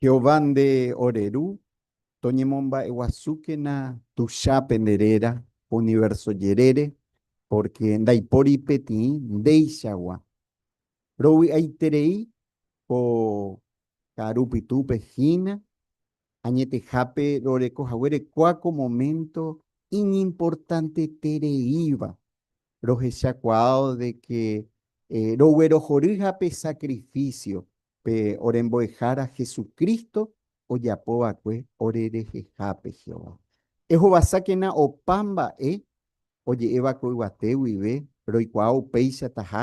Jehová nde ore Ru, toñemomba'eguasúkena tuicha pende réra univérso jerére, pórke ndaipóri peteĩ ndéichagua. Rovy'aiterei ko karu pytũpe hína, añetehápe roreko haguére kua ko momento iñimportantetereíva, rohechakuaávo de que roguerohory ha pe sacrificio pe orembo'ehára Jesucristo ojapo va'ekue orerehehápe Jehová. Ehovasákena opa mba'e oje'éva ko yvate guive roikuaa upéichataha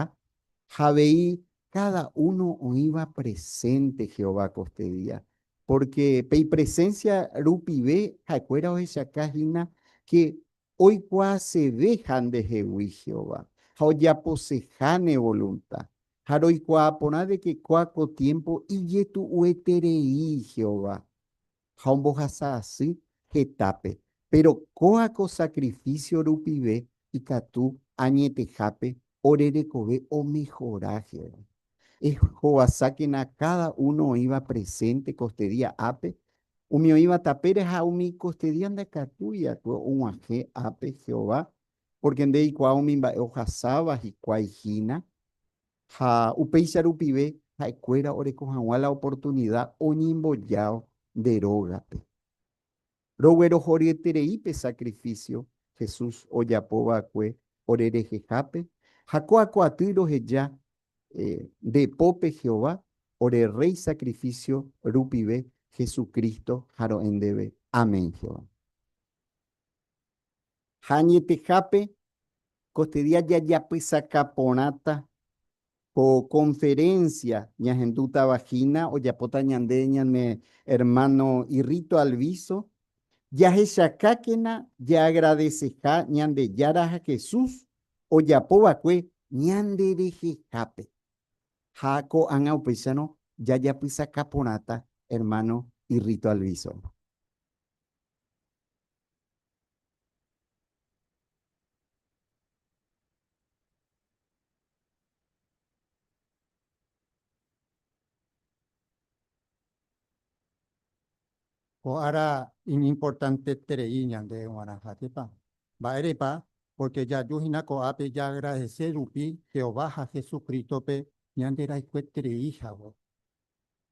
ha avei káda uno oĩva presénte Jehová koste día. Pórke pe ipresénsia rupive ha'ekuéra ohechaka hína ke oikuaaseve ha ndehegui Jehová ha ojaposeha ne volunta. Ha roikuaa porã de ke kóa ko tiémpo ijetu'ueterei Jehová ha ombohasa asy hetápe. Péro kóa ko sakrifísio rupive ikatu añetehápe ore rekove omehora Jehová. Ehovasákena káda uno oĩva presénte ko este día ápe, umi oĩva tapére ha umi ko este día ndakatúi akue og̃uahẽ ápe Jehová pórke ndeikuaa umi mba'e ohasáva hikuái hína, ha upéicha rupive ha'ekuéra oreko hag̃ua la oportunida oñembojao nde rógape. Roguerohoryeterei pe sakrifísio Jesús ojapo va'ekue ore rehehápe ha ko'ako'aty roheja nde pópe Jehová ore Rréi sakrifísio rupive Jesucristo ha ro'e ndéve. Amén, Jehová. Ha añetehápe kotydia jajapysaka porãta ko conferencia Ñahendúta vagina ojapóta ñande ñane hermano Irrito Alviso, jahechakákena jaagradeseha Ñandejára ha Jesús ojapova'ekue ñanderehehápe. Ha ko'ág̃a upéicharõ jajapysaka porãta hermano Irrito Alviso. Ko ára iñimportanteterei ñande g̃uarãha, jepa. Mba'érepa? Pórke jaju hína ko'ápe jaagradese rupi Jehová ha Jesucrístope ñanderayhueterei hague.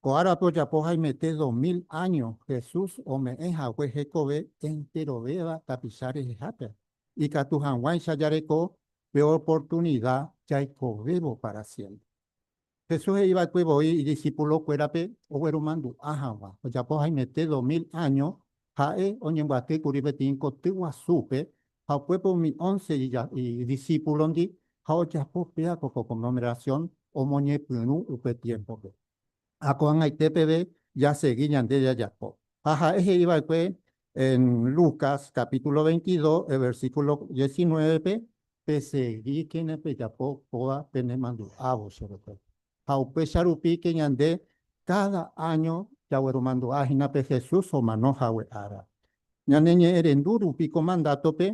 Ko árape ojapo haimete dos mil áño Jesús ome'ẽ hague hekove enterovéva tapicha rehehápe, ikatu hag̃uáicha jareko pe oportunida jaikovévo pára siémpre. Jesús he'i va'ekue voi idisipulokuérape ogueromandu'a hag̃ua ojapo haimete dos mil áño Ha'e oñembyaty kuri peteĩ koty guasúpe ha upépe umi ónce idisípulondi ha ojapo péa ko konglomerasión omoñepyrũ upe tiémpope. Ha ko'ag̃aite peve jasegi ñande jajapo. Ha ha'e he'i va'ekue Lucas capítulo veintidós versículo diecinuévepe, Pesegíkena pejapo kóva penemandu'ávo che retére. ha upéicha rupíke ñande káda áño jagueromandu'a hína pe Jesús omano hague ára. Ñane ñe'ẽrendu rupi ko mandátope,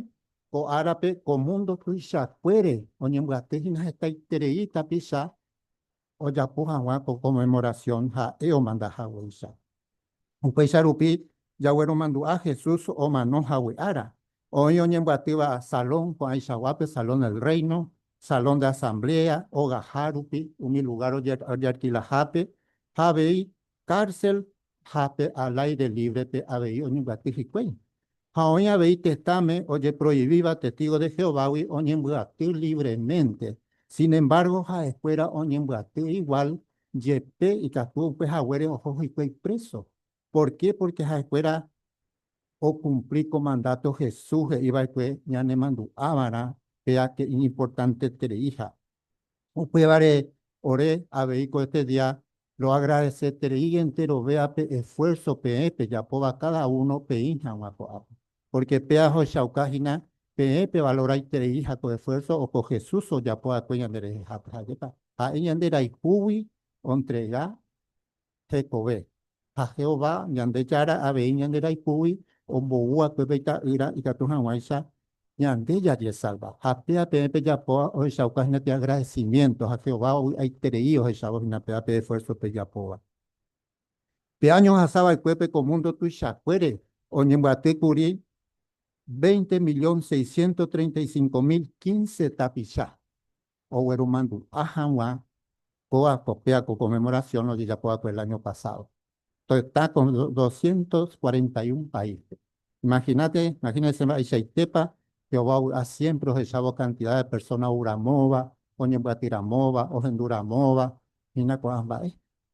ko árape ko múndo tuichakuére oñembyaty hína hetaiterei tapicha ojapo hag̃ua ko Conmemoración ha'e omanda haguéicha. Upéicha rupi jagueromandu'a Jesús omano hague ára, oĩ oñembyatyva Salón ko'ãichaguápe, Salón del Reino, Salón de Asamblea, ogaha rupi, umi lugár ojearkilahápe, ha avei kársel ha pe al aire lívrepe avei oñembyaty hikuái. Ha oĩ avei tetãme ojeproivíva testígo de Jehovágui oñembyaty lívremente, sinembárgo ha'ekuéra oñembyaty iguál Jepe ikatu upe haguére oho hikuái preso. Porqué? Porque ha'ekuéra okumpli ko mandato Jesús he'iva'ekue ñanemandu'ava'erã pe ake iñimportantetereiha. Upévare ore avei ko este día roagradesetereígente rovéva pe esfuerzo peẽ pejapóva cada uno peĩ hag̃ua ko'ápe. Pórke pe ajoechauka hína peẽ pevalorraiterei ha ko esfuérso oho Jesús ojapo va'ekue ñanderehehápe. Ha'épa ha'e ñande raipúgui ontrega hekove. Ha Jehová, Ñandejára, avei ñande raipúgui ombou va'ekue pe Ita'ýra ikatu hag̃uáicha ñande jajesalva. Ha péva peẽ pejapóva ohechauka hína pe agradecimiento, ha Jehová ovy'aiterei ohechávo hína péva pe esfuérso pejapóva. Pe áño ohasa va'ekuépe ko múndo tuichakuére oñembyaty kuri veinte millón seiscientos treinta y cinco mil quince tapicha ogueromandu'a hag̃ua kóva copia ko conmemoración ojejapo va'ekue el año pasado. Toita ko doscientos cuarenta y un país-pe. Imaginate, imagínense mba'eichaitépa Jehová ovy'a siempre ohechávo cantidad de persona ou ramóva, oñembyaty ramóva, ohendu ramóva, hína ko'ã mba'e.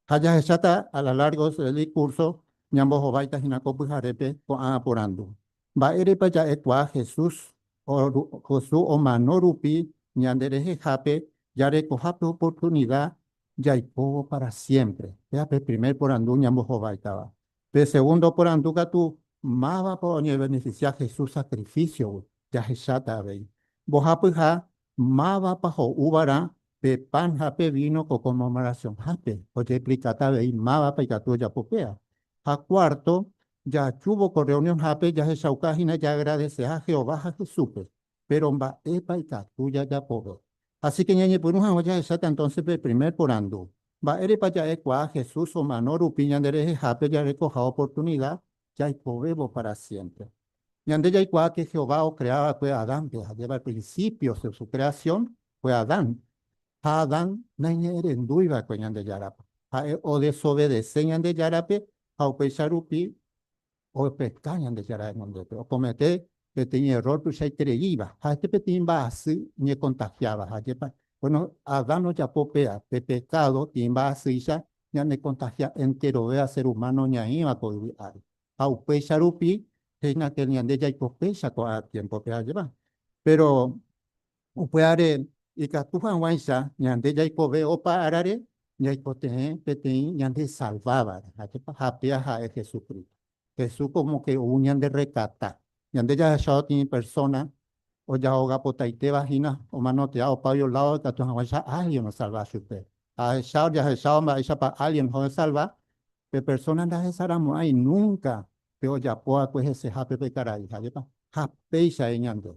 Ha jahecháta a la largo del curso ñambohováita hína ko pyharépe ko'ã aporandu, Mba'érepa ja'ekuaa Jesús Josu omano rupi ñande rehehápe jarekoha pe oportunida jaikóvo para siémpre? Péa pe primer porandu ñambohováitava. Pe segundo porandu katu, Mávapa oñevenefisia Jesús sakrifísiogui? Jahecháta avei, mbohapyha Mávapa ho'úvarã pe pan ha pe víno ko Conmemoracionhápe, ojeexplikáta avei mávapa ikatu ojapo péva. Ha kuárto, jajúvo ko rreunionhápe jahechauka hína jaagradeseha Jehová ha Jesúspe. Péro mba'épa ikatu jajapove? Asíke ñañepyrũ hag̃ua jahecháta entónse pe primer porandu, Mba'érepa ja'ekuaa Jesús omano rupi ñanderehehápe jarekoha oportunida jaipovévo pára siémpre. Ñande jaikuaáke Jehová okrea va'ekue Adánpe, jajépa prinsípio de su kreasión fue Adán. Ha Adán naiñe'ẽrendúi va'ekue Ñandejárape. Ha'e odesovese Ñandejárape ha upéicha rupi opeka Ñandejára renondépe, okomete peteĩ errór tuichaitereíva ha este peteĩ mba'asy ñekontahiáva. Ha ajépa? Bueno, Adán ojapo péva pe pekádo tĩ mba'asýicha ñanekontahia enterovéva ser umáno ñaĩva ko yvy ári. Ha upéicha rupi hína ke ñande jaiko péicha ko'ã tiémpope, ha ajépa? Péro upévare ikatu hag̃uáicha ñande jaikove opa árare ñaikotevẽ peteĩ ñandesalvávare, ha ajépa? Ha péva ha'e Jesucristo. Jesús como que ou ñande rekata. Ñande jahechávo tĩi persona ojahogapotaitéva hína omanotea opágui olávo ikatu hag̃uáicha alien osalva chupe. Ahechávo jahechávo mba'éichapa alien hohesalva, pe persona ndahesaramo'ãi nunca pe ojapo va'ekue hesehápe pe karai. Jajépa? Ha péicha he'i ñande.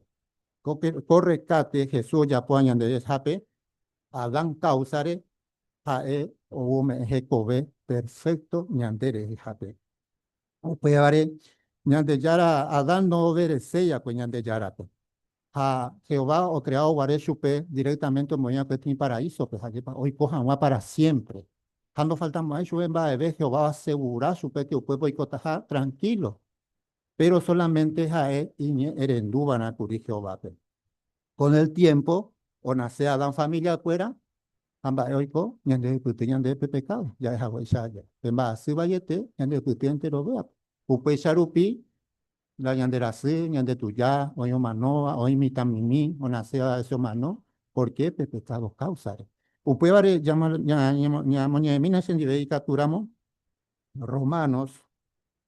Ko rekate Jesús ojapóva ñande resape, Adán káusare, Ha'e ome'ẽ hekove perfékto ñande rehehápe. Upévare, Ñandejára Adán ndovereséi va'ekue Ñandejárape. Ha Jehová okreávo guare chupe direktámente omoĩ va'ekue tĩi paraísope, jajépa oiko hag̃ua pára siémpre. Ha ndofaltamo'ãi chupe mba'eve Jehová oasegura chupépe upépe oikotaha tranhílo. péro sólamente ha'e iñe'ẽrendúva'erã kuri Jehovápe. Kon el tiémpo onase Adán familiakuéra ha mba'e oiko ñandehupyty ñande pe pekádo ja'e haguéicha aja, pe mba'asy vaiete ñandehupyty enterovéape. Upéicha rupi la ñande rasy, ñande tuja, oĩ omanóva, oĩ mitãmimi onaséva avese omano. Pórke pe pekádo káusare. Upévare ñamoñe'ẽmína chendive ikatúramo, Romanos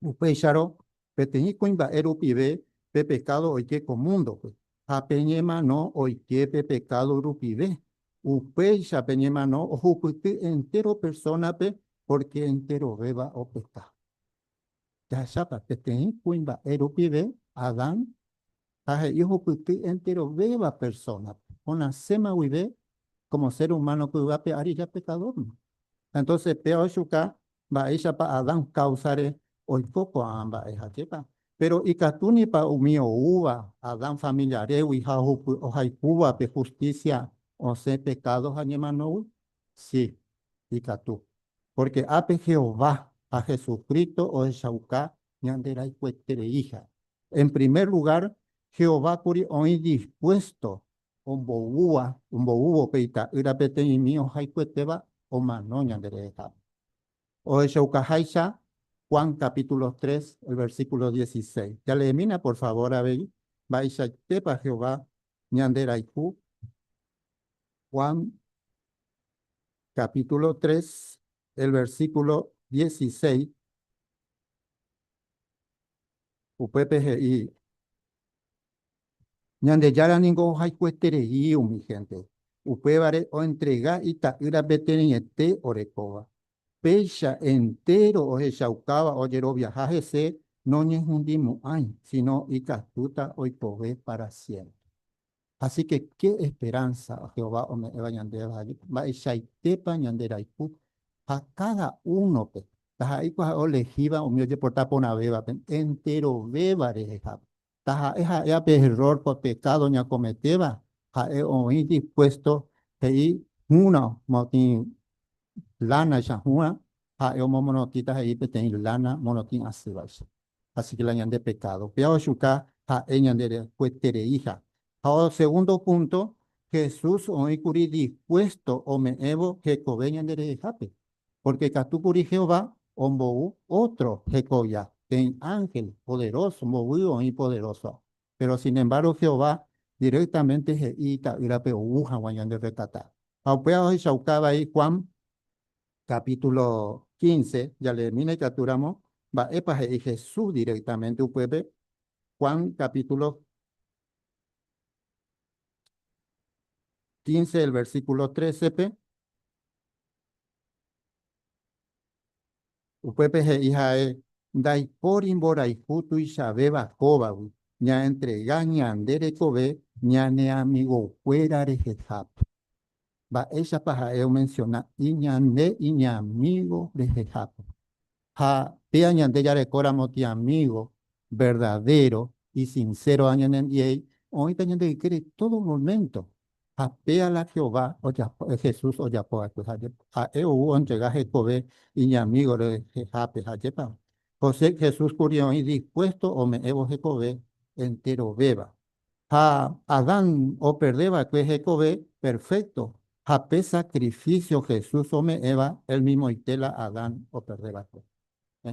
Upéicharõ, peteĩ kuimba'e rupive pe pekádo oike ko múndope, ha pe ñemano oike pe pekádo rupive. Upéicha pe ñemano ohupyty entéro persónape pórke enterovéva opeka. Jahechápa, peteĩ kuimba'e rupive Adán ha he'i ohupyty enterovéva persónape, onaséma guive kómo sér umáno py'ape ári japekadórma. Entóse péva oichuka Mba'éichapa Adán káusare oiko ko'ã mba'e jaképa? Péro ikatúnipa umi oúva Adán familiarégui ha ohaipúvape hustísia osẽ pekádo ha ñemanógui? Si, ikatu. Pórke ápe Jehová ha Jesucristo ohechauka ñanderaikuetereíha. En primer lugár, Jehová kuri oĩ dispuésto omboúva, omboúvo pe ita'ýra peteĩmi ohayhuetéva omano ñande rehehápe. Ohechaukaháicha Juan capítulo tres, el versículo dieciséis. Jaleemína por favor avei mba'eichaitépa Jehová ñanderayhu Juan capítulo tres, el versículo dieciséis. Upépe he'i. Ñandejára ningo ohayhueterei umi hénte, upévare oentrega Ita'ýra peteĩete orekóva. Péicha entéro ohechaukáva ojeroviaha hese noñehundimo'ãi, síno ikatúta oikove pára siémpre. Asíke ke esperánsa Jehová ome'ẽva ñandéva mba'eichaitépa ñanderayhu ha káda únope, taha'éi kuaha'e olehíva umi ojeporta porãvévape enterovéva rehehápe. taha'e ha'éva pe error, pe pecado ñakometéva, ha'e oĩ dispuesto he'i hũrõ motĩ lana icha hũrã, ha'e omomorotĩta he'i peteĩ lana morotĩ asývaicha. Así que la ñande pecado péva ojuka ha'e ñande rekuetereíha. Ha o segundo punto, Jesús oĩkuri dispuesto ome'ẽvo hekove ñanderehehápe. Pórke katu kuri Jehová ombou ótro hekovia, peẽ ánhel poderóso mboy oĩ poderóso. Péro sinembáro Jehová direktamente he'i Ita'ýrape ou hag̃ua ñanderretata. Ha upéva ohechauka vai Juan kapítulo quince, jaleemína ikatúramo mba'épa he'i Jesús direktamente upépe. Juan kapítulo quince el versíkulo trésepe. Upépe he'i ha'e, Ndaipóri mborayhu tuichavéva kóvagui ñaentrega ñande rekove ñane amigokuéra rehehápe. Mba'éichapa ha'e omensiona iñande iñamígo rehehápe? Ha péa ñande jarekóramo tiamígo verdadéro isinsero añanendiei, oĩta ñande ykére tódo moménto. Ha péa la Jehová ojapo, Jesús ojapo va'ekue ha jepa. Ha'e ou ontrega hekove iñamígo rehehápe ha jepáma. José, Jesús kuri oĩ dispuésto ome'ẽvo hekove enterovéva. ha Adán operde va'ekue hekove perfékto ha pe sakrifísio Jesús ome'ẽva elmimoite la Adán operde va'ekue.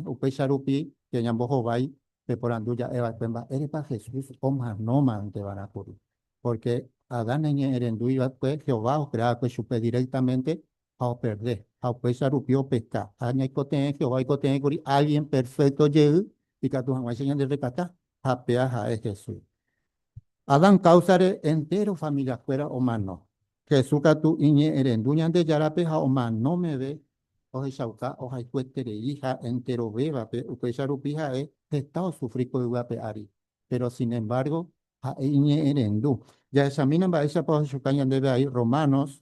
Upéicha rupi che ñambohovái peporandu ja'e va'ekue mba'érepa Jesús omanómanteva'erã kuri. Pórke Adán eñe'ẽrendúi va'ekue, Jehová okrea va'ekue chupe diréktamente ha operde, ha upéicha rupi opecha. Ha ñaikotevẽ, Jehová oikotevẽkuri álgien perfékto jey, ikatu hag̃uáicha ñanderekata, ha péa ha'e Jesús. Adán káusare entéro familiakuéra omano. Jesús katu iñe'ẽrendu Ñandejárape ha omano meve ohechauka ohayhueterei ha enterovévape, upéicha rupi ha'e heta osufri ko yvy ape ári. Péro sinemvárgo ha'e iñe'ẽrendu. Jahechamína mba'éichapa ohechauka ñandéve vai Romanos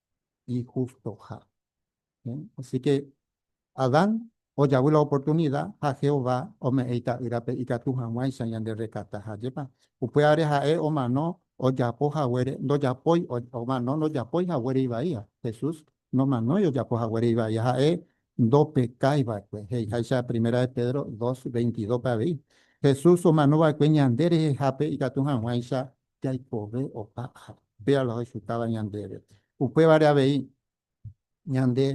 ijustoha. Así que Adán ojavy la oportunida ha Jehová ome'ẽ Ita'ýrape ikatu hag̃uáicha ñanderekata. Ha ajépa? Upévare ha'e omano ojapo haguére ndojapói, omano ndojapói haguére ivaíva. Jesús nomanói ojapo haguére ivaíva, ha'e ndopekái va'ekue. He'iháicha Primera de Pedro dos, veintidópe avei, Jesús omano va'ekue ñande rehehápe ikatu hag̃uáicha jaikove opa ári. Péva la oichutáva ñandéve. Upévare avei, ñande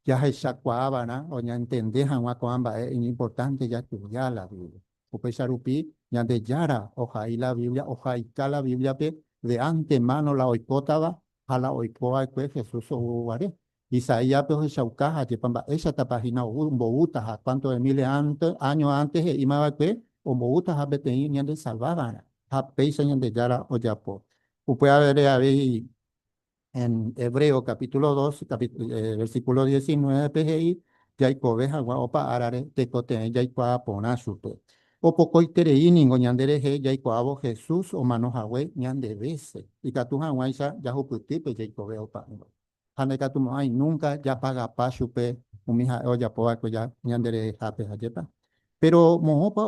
jahechakuaa va'erã o ñaentende hag̃ua ko'ã mba'e iñimportánte jastudia la Biblia. Upéicha rupi, Ñandejára ohai la Biblia, ohaita la Bíbliape de antemáno la oikótava ha la oiko va'ekue Jesús ou guare. Isaíaspe ohechauka ha ajépa mba'éichatapa hína omboúta ha cuánto de miles año antes he'íma va'ekue omboúta ha peteĩ ñandesalva va'erã ha péicha Ñandejára ojapo. Upe aveve avei en Hebreos capítulo dos, versículo diecinueve pe he'i jaikove hag̃ua opa árare tekotevẽ jaikuaa porã chupe. Opokoiterei ningo ñanderehe jaikuaávo Jesús omano hague ñandevese, ikatu hag̃uáicha jahupyty pe jaikove opa'ỹva. ha ndaikatumo'ãi núnka japagapa chupe umi ha'e ojapo va'ekue ñanderehehápe. Ajépa. Péro moõpa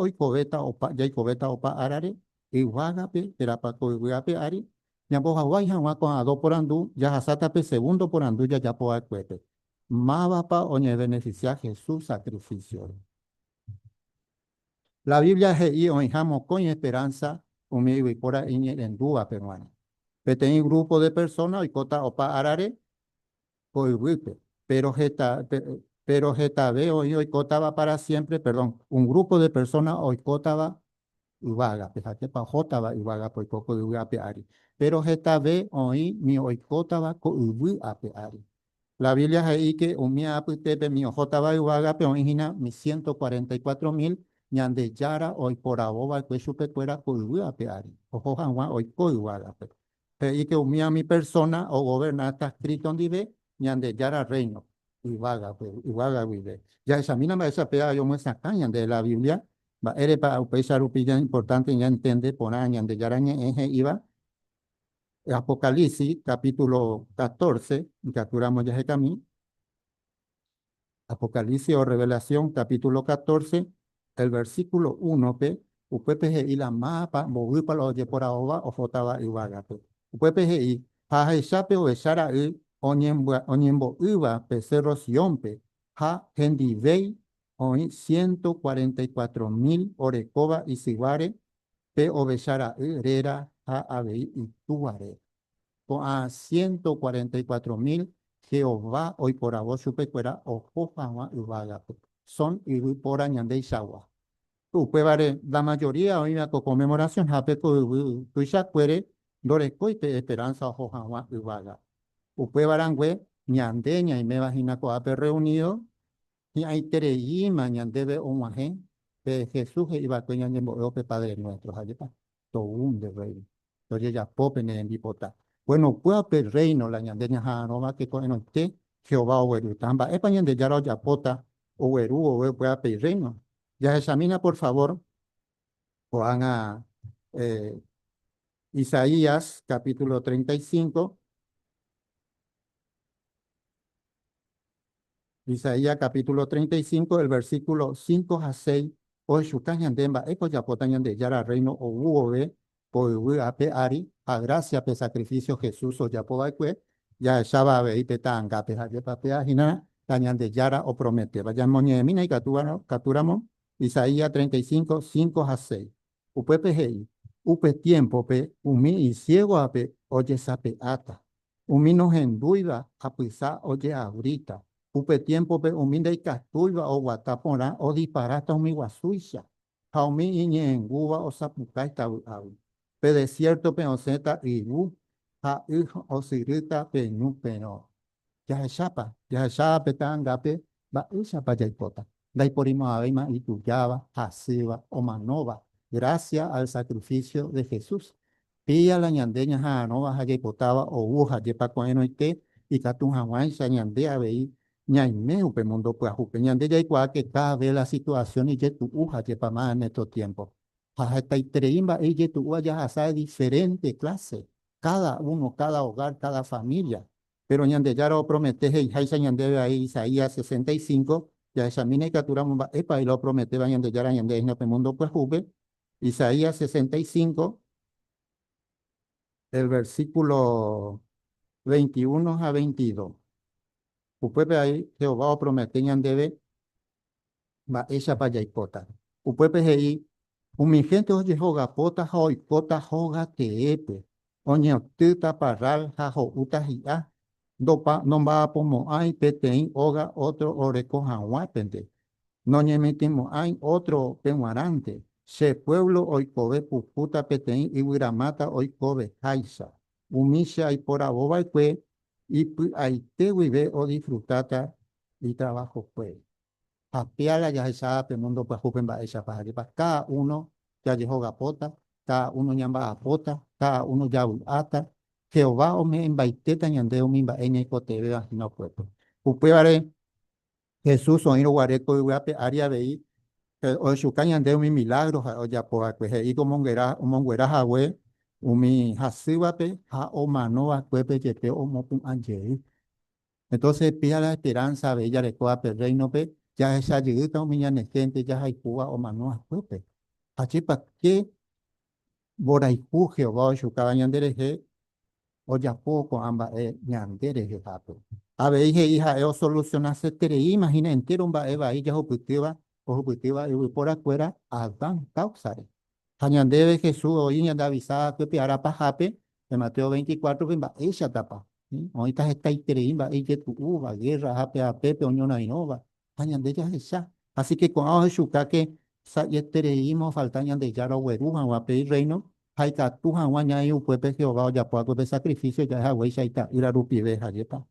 jaikovéta opa árare? Yvágape, térãpa ko yvy ape ári? Ñambohaguái hag̃ua ko'ã dó porandu, jahasáta pe segundo porandu jajapo va'ekuépe, Mávapa oñevenefisia Jesús sakrifísiore? La Biblia he'i oĩha mokõi esperánsa umi yvypóra iñe'ẽrendúvape g̃uarã. Peteĩ grúpo de persóna oikóta opa árare ko yvýpe, péro heta, péro hetave oĩ oikótava pára siémpre, perdón, un grúpo de persóna oikótava yvágape, jaképa ohótava yvágape oiko ko yvy ape ári, péro hetave oĩ ni oikótava ko yvy ape ári. La Biblia he'íke umi apytépe umi ohótava yvágape oĩ hína umi ciento cuarenta y cuatro mil Ñandejára oiporavo va'ekue chupekuéra ko yvy ape ári, oho hag̃ua oiko yvágape. He'íke umíami persóna ogoverna heta Cristo ndive Ñandejára Rréino yvágape, yvága guive. Jahechamína mba'éicha pe aja omyesakã ñandéve la Biblia, mba'érepa upéicha rupi jaimportánte ñantende porã Ñandejára Ñe'ẽ he'íva. Apocalipsis capítulo catorce ikatu ramo jahekami, Apocalipsis o Revelación capítulo catorce el versículo uno-pe, upépe he'i la mápa mboýpa la ojeporaóva ohótava yvágape. Upépe he'i, Ha ahecha pe Ovecha Ra'y oñembo'ýva pe cérro Siónpe, ha hendivéi oĩ ciento cuarenta y cuatro mil orekóva isyváre pe ovecha ra'y réra ha avei itúa réra. Ko'ã ciento cuarenta y cuatro mil Jehová oiporavo chupekuéra oho hag̃ua yvágape, son yvy póra ñandeichagua. Upévare, la mayoría oĩva ko Conmemoración hápe ko yvy tuichakuére ndorekói pe esperanza oho hag̃ua yvága. Upéva rangue, ñande ñaiméva hína ko'ápe reunido, hi'ãitereíma ñandéve og̃uahẽ pe Jesús he'i va'ekue ñañembo'évo pe Padre Nuéstro, jajépa tou nde Rréino tojejapo pene rembipota. Kuenokuéva pe Rréino la ñande ñaha'arõva teko'ẽrõite Jehová oguerúta. Ha mba'épa Ñandejára ojapóta ogueru vove upéva pe Irréino? Jahechamína, por favór, ko'ág̃a Isaías capítulo treinta y cinco. Isaías capítulo treinta y cinco el versículo cinco ha seis ohechuka ñande mba'épa ojapóta Ñandejára Rréino ou vove ko yvy ape ári ha grásia pe sakrifísio Jesús ojapo va'ekue jahecháva avei pe ta'angápe. Ha jepapea hína Ñandejára oprometéva. Ñamoñe'ẽmína ikatúramo Isaías treinta y cinco, cinco ha seis. Upépe he'i, Upe tiémpope umi isiégo ape ojesape'áta, umi nohendúiva apysa ojeabríta, upe tiémpope umi ndaikatúiva oguata porã odisparáta umi guasúicha, ha umi iñe'ẽngúva osapukáita vy'águi. Pe desiértope osẽta yvu ha y osyrýta peñu perõ. Jahechápa? Jahecha pe ta'angápe mba'éichapa jaipota. Ndaiporimo'ãvéima itujáva, hasýva, omanóva, grásia al sakrifísio de Jesús. Pía la ñande ñaha'arõva ha jaipotáva ou ohajépa ko'ẽrõite ikatu hag̃uáicha ñande avei ñaime upe múndo pyahupe. Ñande jaikuaáke káda ves la situasión ijetu'uhajépa más en esto tiémpo. Ha hetaiterei mba'e ijetu'úva jahasa de diferénte kláse, káda uno, káda ogár, káda família. Péro Ñandejára opromete he'iháicha ñandéve vai Isaías sesenta y cinco, jahechamína ikaturamo mba'épa oĩ la oprometéva Ñandejára ñande reino pe múndo pyahúpe. Isaías sesenta y cinco, el versículo veintiuno ha veintidos. Upépe vai Jehová opromete ñandéve Mba'éichapa jaipóta? Upépe he'i, Umi hénte ojehogapóta ha oikóta hóga teépe, oñeotýta parrál ha ho'úta hi'a, ndomba'apomo'ãi peteĩ óga ótro oreko hag̃uápente, noñemitĩmo'ãi ótro pe g̃uarãnte, che puévlo oikove pukúta peteĩ yvyramáta oikoveháicha. Umi che aiporavova'ekue Ipy'aite guive odisfrutáta itravajokue. Ha péa la jahecha pe múndo pyahúpe mba'éichapa jajepa káda uno jajehogapóta, káda uno ñamba'apóta, káda uno javy'áta. Jehová ome'ẽmbaitéta ñande umi mba'e ñaikotevẽva hína okuepe. Upévare Jesús oĩrõ guare ko yvy ape ári avei ohechuka ñande umi milágro ha'e ojapo va'ekue, he'íko omonguera omonguera hague umi hasývape ha omano va'ekuépe jepe omopu'ã jey. Entonces pida la esperanza avei jareko ape Rréinope jahecha jeyýta umi ñane hénte jahaipóva omano va'ekuépe. Ha che pa ke Mborayhu Jehová oichukáva ñanderehe ojapo ko'ã mba'e ñande rehehápe. Avei he'i ha'e osolusionasetereíma hína entéro mba'e vai jahupytýva ohupytýva yvyporakuéra Adán káusare. Ha ñandéve Jesús oĩ ñandeavisa hakuépe ára pahápe, pe Mateo veinte y cuatro-pe, mba'éichatapa. Oĩta hetaiterei mba'e ijetu'úva, gérra ha pe apépe oñorairõva, ha ñande jahecha. Asíke ko'ã ohechukáke sa'ietereíma ofalta Ñandejára ogueru hag̃ua pe Irréino ha ikatu hag̃ua ñaĩ upépe Jehová ojapo hague pe sakrifísio ja'e haguéicha Ita'ýra rupive. Jajépa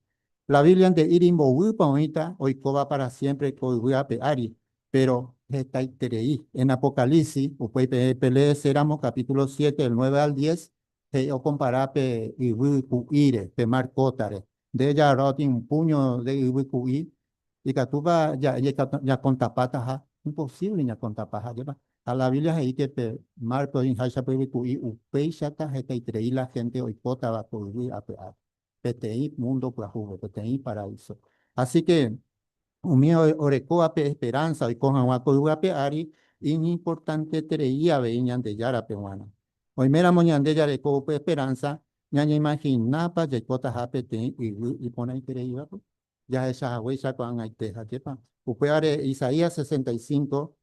la Biblia nde'íri mboýpa oĩta oikóva pára siémpre ko yvy ape ári, péro hetaiterei. En Apocalipsis, upéi peẽ peleeséramo kapítulo siete del nueve al diez, he'i okompara pe yvy ku'íre, pe mar kótare, Nde jaro'y un púño de yvy ku'i, ikatúpa ñakontapátaha? Imposíble ñakontapa ha'éva. Ha la Biblia he'i ke pe márpe oĩháicha pe yvy ku'i upéichata hetaiterei la hénte oikótava ko yvy ape ári, peteĩ múndo pyahúvo, peteĩ paraíso. Así ke umi orekóva pe esperánsa oiko hag̃ua ko yvy ape ári, iñimportanteterei avei Ñandejárape g̃uarã. Oiméramo ñande jareko upe esperánsa, Ñañeimaginápa jaikotaha peteĩ yvy iporãitereívape? Jahecha haguéicha ko'ag̃aite. Ajépa? Upévare Isaías sesenta y cinco,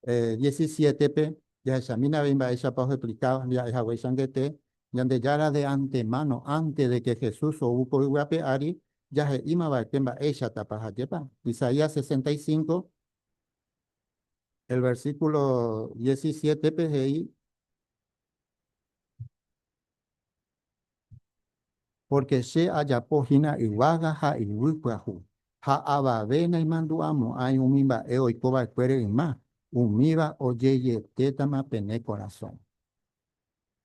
diecisiétepe jahechamína avei mba'éichapa oheplika ha'e hagueichantete, Ñandejára de antemáno, ánte de ke Jesús ou ko yvy ape ári, jahe'íma va'ekue mba'éichatapa. Ajépa? Isaías sesenta y cinco, el versículo diecisiétepe he'i, Pórke che ajapo hína yvága ha yvy pyahu, ha avave naimandu'amo'ãi umi mba'e oiko va'ekuére yma, umíva ojejetétama pene korasõ.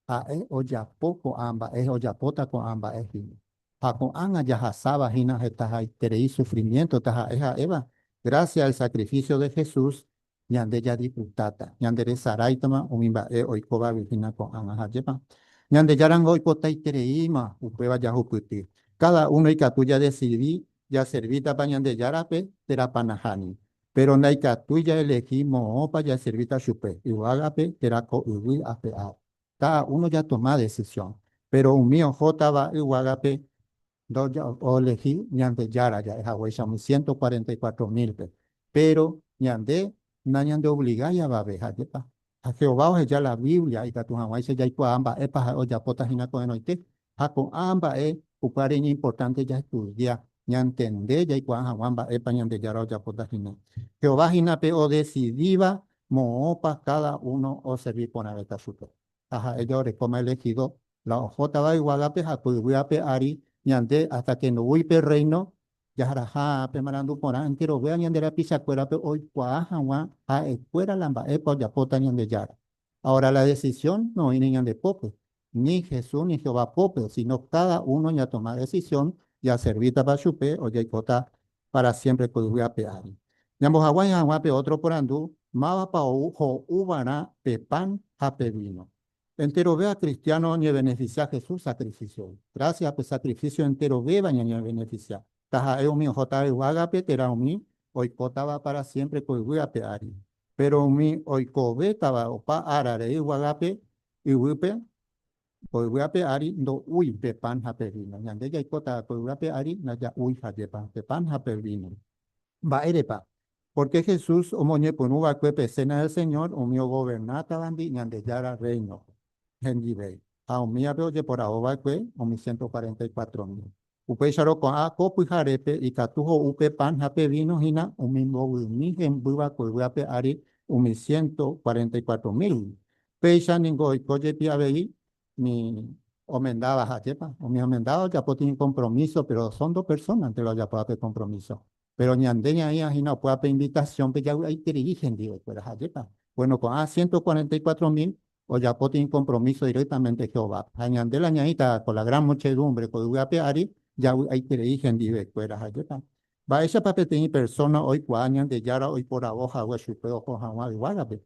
Ha'e ojapo ko'ã mba'e, ojapóta ko'ã mba'e hína. Ha ko'ág̃a jahasáva hína hetahaiterei sufrimiénto taha'e ha'éva grásia el sakrifísio de Jesús ñande jadisfrutáta, ñanderesaráitama umi mba'e oikóvagui hína ko'ág̃a ha ajépa. Ñandejára ningo oipotaitereíma upéva jahupyty. Káda uno ikatu jadesidi jaservítapa Ñandejárape térapa nahániri. Péro ndaikatúi jaelehi moõpa jaservíta chupe, yvágape térã ko yvy ape ári. Káda uno jatoma desisión. Péro umi ohótava yvágape Ndoelegi Ñandejára ja'e haguéicha umi ciento cuarenta y cuatro mílpe. Péro ñande nañandeovligái avave. Jajépa? Ha Jehová oheja la Biblia ikatu hag̃uáicha jaikuaa mba'épa ha'e ojapóta hína ko'ẽrõite. Ha ko'ã mba'e upévare iñimportánte jaestudia, ñantende jaikuaa hag̃ua mba'épa Ñandejára ojapóta hína. Jehová hína pe odesidíva moõpa káda uno oservi porãvéta chupe. ha ha'e jaorekóma elegido, la ohótava yvágape ha ko yvy ape ári ñande hasta que ndoúi pe Reino, jaharaha pe marandu porã entero véva ñande rapichakuérape oikuaa hag̃ua ha'ekuéra la mba'épa ojapóta Ñandejára. Ahora la decisión no oĩne ñande pópe, ni Jesús ni Jehová pópe, sino cada uno ñatoma decisión jaservítapa chupe ojaikota pára siémpre ko yvy ape ári. Ñambohaguãi hag̃ua pe ótro porandu, Mávapa ou ho'uva'erã pe pan ha pe víno? Enterove akristiáno oñevenefisia Jesús sakrifisiógui. Grásias pe sakrifísio enterovéva ñañevenefisia, taha'e umi ohóta yvágape térã umi oikótava pára siémpre ko yvy ape ári. Péro umi oikovétava opa ára rei yvágape yvýpe, Ko yvy ape ári ndo'úi pe pan ha pe víno. Ñande jaikóta ko yvy ape ári ndaja'úi hajépa pe pan ha pe víno. Mba'érepa? Pórke Jesús omoñepyrũ va'ekue pe Cena del Señor umi ogovernátavandi Ñandejára Rréino hendive ha umívape ojeporavo va'ekue umi siénto cuarenta y cuatro mil. Upéicharõ ko'ã ko pyharépe ikatu ho'u pe pan ha pe víno hína umi mbovymi hemby va'ekue yvápe ári umi siénto cuarenta y cuatro mílgui. Péicha ningo oiko jepi avei umi omendáva. Ajépa! Umi omendáva ojapo tĩi kompromíso, péro osõ ndo persónante la ojapo ápe kompromíso. Péro ñande ñaĩva hína opu'ã pe invitasiónpe javy'aiterei hendivekuéra. Jajépa. Buéno, ko'ã siénto kuarenta y kuatro mil ojapo tei kompromiso direktamente Jehovápe. Ha ñande la ñaĩta ko la gran muchedúmbre ko yvy ape ári javy'aiterei hendivekuéra. Jajépa. Mba'éichapa peteĩ persóna oikuaa Ñandejára oiporavo hague chupe oho hag̃ua yvágape?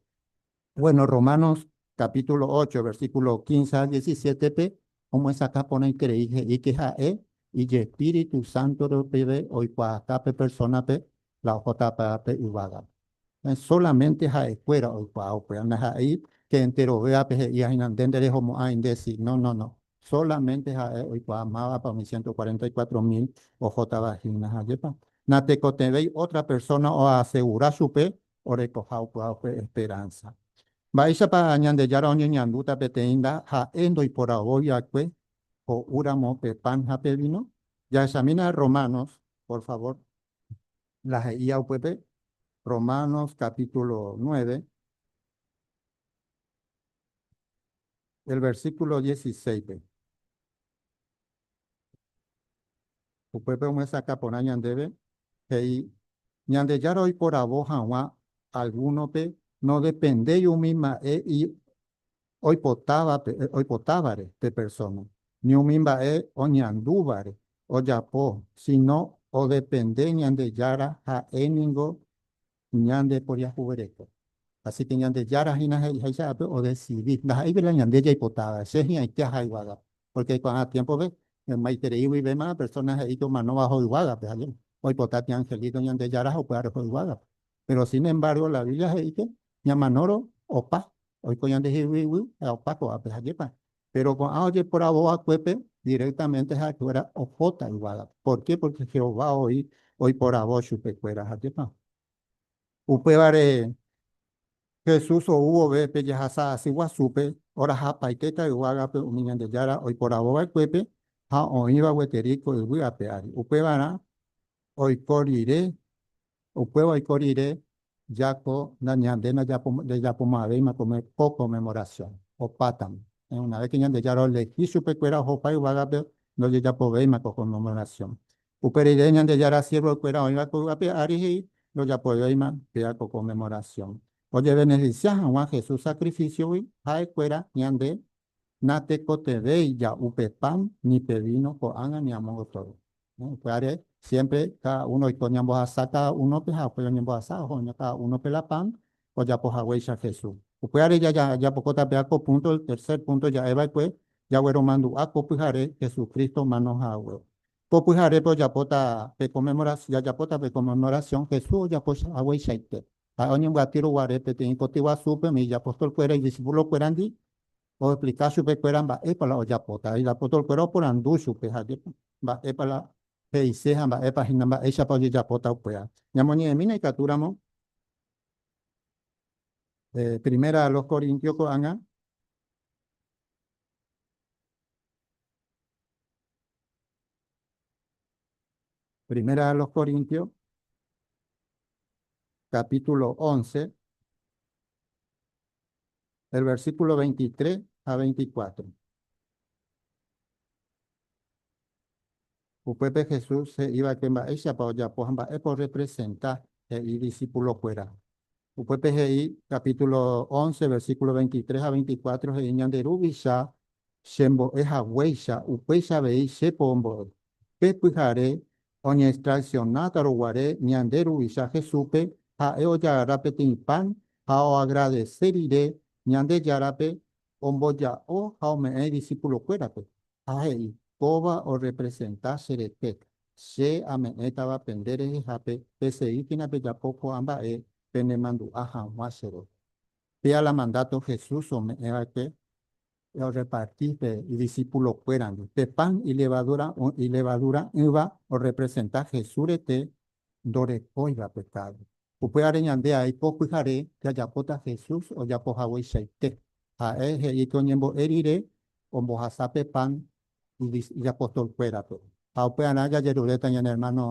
Bueno, Romanos capítulo ocho, versículo quince ha diecisiete-pe omyesakã porãi krei he'íke ha'e ijespíritu sánto rupive oikuaaka pe persónape la ohóta apy'a pe yvágape. Solamente ha'ekuéra oikuaa upéva. Ndaha'éi che enterovévape he'íahína nde nderehomo'ãi nde si. No, no, no. Solamente ha'e oikuaa mávapa umi ciento cuarenta y cuatro mil ohótava hína. Ha jepa, natekotevẽi otra persona oasegura chupe orekoha opy'aguapy esperánsa. Mba'éichapa Ñandejára oñeñandúta peteĩ nda ha'e ndoiporavói va'ekue ho'úramo pe pan ha pe víno? Jahechamína Romanos, por favor. La he'íva upépe, Romanos capítulo nueve, el versículo dieciséispe. Upépe omyesakã porã ñandéve, he'i, Ñandejára oiporavo hag̃ua algúnope nodependéi umi mba'e oipotávape, oipotávare pe persóna, ni umi mba'e oñandúvare ojapo, síno odepende Ñandejára, ha'e ningo Kuña nde poriahuvereko. Asíke Ñandejára hína he'iháicha ápe odesidi. Ndaha'éipe la ñande jaipotáva. Che hi'ãite aha yvága. Pórke ko'ág̃a tiémpope, maitérei guivéma persóna he'íke omanóva oho yvágape. Ha oipota tiangelíko Ñandejára ha upy'aro oho yvágape. Péro sin embárgo la Biblia he'íke ñamanórõ opa oiko ñande hi'uigui ha opa ko'ápe. Ha jepa'e, Péro ko'ã ojeporavo va'ekuépe direktamente ha'ekuéra ohóta yvágape. Porke? Porke Jehová oĩ oiporavo chupekuéra hajépa. Upévare Jesús ou vove pe jahasa asy guasúpe, orahapaitéta yvágape umi Ñandejára oiporavo va'ekuépe ha oĩva gueteri ko yvy ape ári. Upévarã oiko rire Upéva oiko rire Jaco na ñande ndejapoma'ãvéima ko Conmemoración, opátame. Una vez que Ñandejára olehi chupekuéra ohopa yvágape, ndojejapovéima ko Conmemoración. Upe rire Ñandejára siervokuéra oĩva koy'ápe ári he'i ndojapovéima péa ko Conmemoración. Ojebeneficia hag̃ua Jesús sacrificiogui ha'ekuéra ñande Natekotevẽi ja'u pe pan ni pe víno ko'ág̃a ni amo gotyo. Upévare siémpre káda uno oiko ñambohasa káda únope ha upéi oñembohasa oho oña káda únope la pan ojapo haguéicha Jesús. Upévare jajapóta péva ko púnto, el tercer púnto ja'e va'ekue, jagueromandu'a ko pyhare Jesucristo omano hague. Ko pyharépe ojapóta pe conmemoración, jajapóta pe conmemoración Jesús ojapo hagueichaite. Ha'e oñembyaty ruguare peteĩ koty guasúpe umi ijapostolkuéra, idiscipulokuérandi, Oexplika chupekuéra mba'épa la ojapóta. Ha itapotorkuéra oporandu chupe jajépa mba'épa la he'ise ha mba'épa hína mba'éichapa ojejapóta upéva. Ñamoñe'ẽmína ikatúramo Primera a los Corintios ko'ág̃a. Primera a los Corintios, capítulo once. el versículo 23 ha 24. Upépe Jesús he'ívake mba'éichapa ojapo ha mba'épa orrepresenta he'i idisipulokuéra. Upépe he'i, capítulo 11, versículo 23 ha 24 he'i, Ñande Ruvicha chembo'e haguéicha, upéicha avei chépo ombo'e. Pe pyhare Oñestraisionátarõ guare ñande Ruvicha Jesúspe, ha'e ojagarra peteĩ pan ha oagradese rire Ñandejárape, omboja'o ha ome'ẽ idisipulokuérape, ha he'i, Kóva orrepresenta che rete. Che ame'ẽtava pende rehehápe pesei hína pejapo ko'ã mba'e penemandu'a hag̃ua chéve. Péa la mandáto Jesús ome'ẽva'ekue orreparti pe idisipulokuérandi. Pe pan ilevaduura'ỹva orrepresenta Jesús rete ndorekóiva pekádo. Upévare ñande aipo pyhare jajapóta Jesús ojapo hagueichaite. Ha'e he'i pe oñembo'e rire ombohasa pe pan ijapostolkuérape. Ha upearã jajeruréta ñane ermáno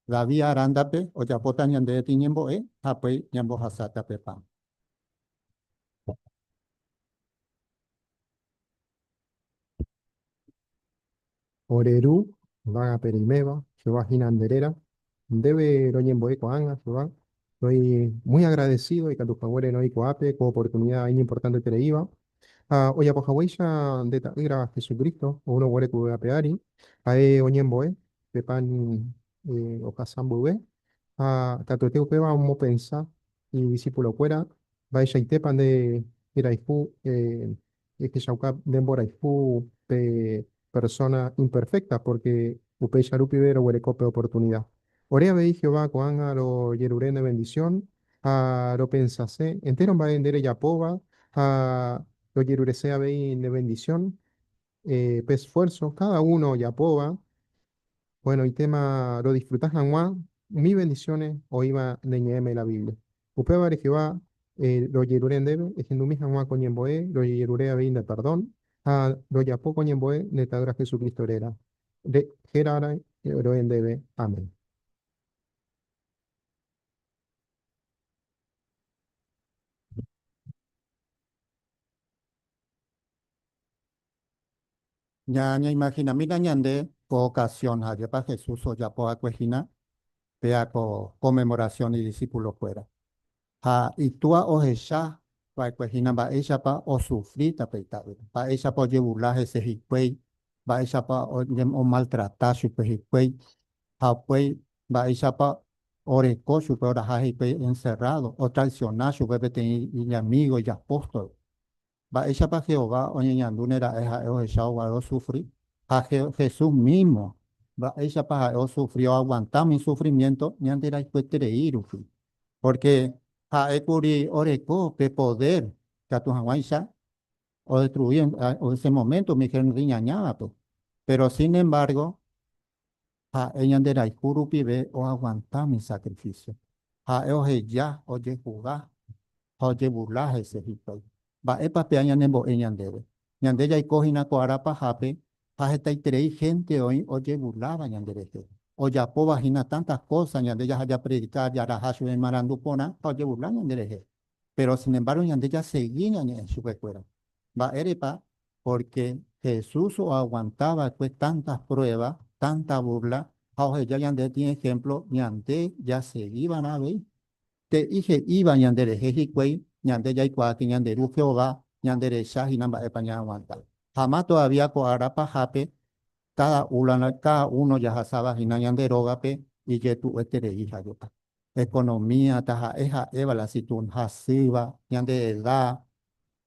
David arándape ojapóta ñande retĩ ñembo'e ha upéi ñambohasáta pe pan. Ore ru yvágape reiméva, Jehová hína nde réra. Ndéve roñembo'e ko'ág̃a, Jehová. Soy muy agradecido ikatu haguére noĩ ko'ápe ko oportunida iñimportantetereíva. Ha ojapo haguéicha nde Ta'ýra Jesucristo oúrõ guare ku vy'ápe ári, ha'e oñembo'e pe pan ohasa mboyve ha katuete upéva omopensa Idisipulokuéra, mba'eichaitépa nde rayhu ehechauka nde mborayhu pe persóna imperfékta? Pórke upéicha rupive roguereko pe oportunida. Ore avei Jehová ko'ág̃a rojerure ne vendisión ha ropensase entéro mba'e nde rejapóva ha rojerurese avei ne vendisión. eh, pe esfuerzo cada uno ojapóva, bueno, itéma rodisfruta hag̃ua umi bendiciones oĩva ne ñe'ẽme la Biblia. Upévare Jehová eh, rojerure ndéve ehendumi hag̃ua ko ñembo'e rojejerure avei nde perdón ha rojapo ko ñembo'e ne Ta'ýra Jesucristo réra. Re, hérarõ roe ndéve. Amén. Ñaimaginamína ñande ko okasión ha ajépa Jesús ojapo va'ekue hína péa ko Conmemoración idisipulokuéra. Ha Itúa ohecha va'ekue hína mba'éichapa osufri tape Ita'ýra, mba'éichapa ojevula hese hikuái, mba'éichapa omaltrata chupe hikuái, ha upéi mba'éichapa oreko chupe oraha hikuái encerrado, otraiciona chupe peteĩ iñamígo, iapóstol. Mba'éichapa Jehová oñeñandúne ra'e ha'e ohechávo guare osufri? Ha Jesús mísmo, mba'éichapa ha'e osufri, oaguanta umi sufrimiénto ñanderayhueterei rupi? Pórke ha'e kuri oreko pe podér ikatu hag̃uáicha odetrui en ese moménto umi hénte iñañávape. Péro sin embárgo, Ha'e ñanderayhu rupive oaguanta umi sakrifísio. Ha'e oheja, ojehuga ha ojebula hese hikuái. Mba'épa pea ñanembo'e ñandéve? Ñande jaiko hína ko ára pahápe ha hetaiterei hénte oĩ ojebuláva ñanderehe. Ojapóva hína tánta kósa ñande jaha japredika jaraha chupe marandu porã ha ojebula ñanderehe. Péro sinembargo ñande jasegi ñañe'ẽ chupekuéra. Mba'érepa? Pórke Jesús oaguanta va'ekue tánta pruéva, tánta búrla ha oheja ñande tĩ ehémplo ñande jasegi va'erã avei. He'i he'íva ñanderehe hikuái ñande jaikuaáke ñande Ru Jehová ñanderecha hína mba'épa ñaaguanta. Ha ma tovavía ko ára pahápe, káda úla káda uno jahasáva hína ñande rógape ijetu'ueterei hag̃ua. economía taha'e ha'éva la situon hasýva, ñande edá,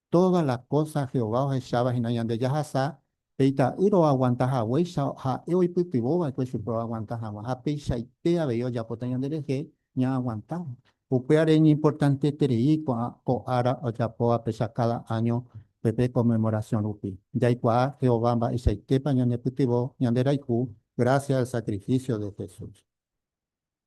todas las cosas Jehová ohecháva hína ñande jahasa, pe ita'ýra oaguanta haguéicha ha'e oipytyvõ va'ekue chupe oaguanta hag̃ua, ha peichaite avei ojapóta ñande rehe ñaaguantáva. Upévare iñimportanteterei ko'ã ko ára ojapóvapecha káda áño pepe Conmemoración rupi, jaikuaa Jehová mba'eichaitépa ñanepytyvõ ñande rayhu grásia al sacrificio de Jesús.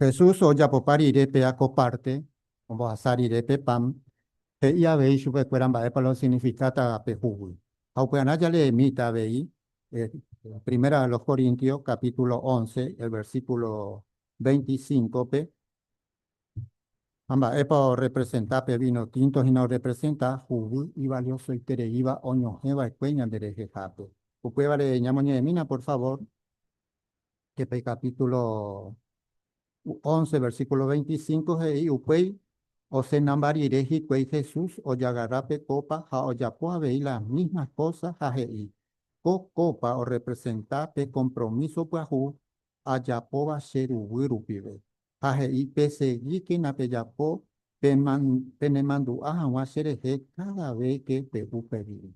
Jesús ojapopa rire péa ko párte, ombohasa rire pe pan, he'i avei chupekuéra mba'épa la osinifikáta pe jugui. Ha upy'arã jaleemíta avei Primera a los Corintios capítulo once, el versículo veinticinco-pe, ha mba'épa orrepresenta pe víno tínto hína orrepresenta jugui ivaliosoitereíva oñohẽ va'ekue ñanderehehápe. Upévare ñamoñe'ẽmína, por favor. que pe capítulo 11, versículo 25 he'i upéi osenamba rire hikuái Jesús ojagarra pe copa ha ojapo avei las mismas cosas ha he'i, Ko copa orrepresenta pe compromiso pyahu ajapóva che ruguy rupive. Ha he'i, Pesegíkena pejapo penemandu'a hag̃ua cherehe cada ves que pe'u pe vida.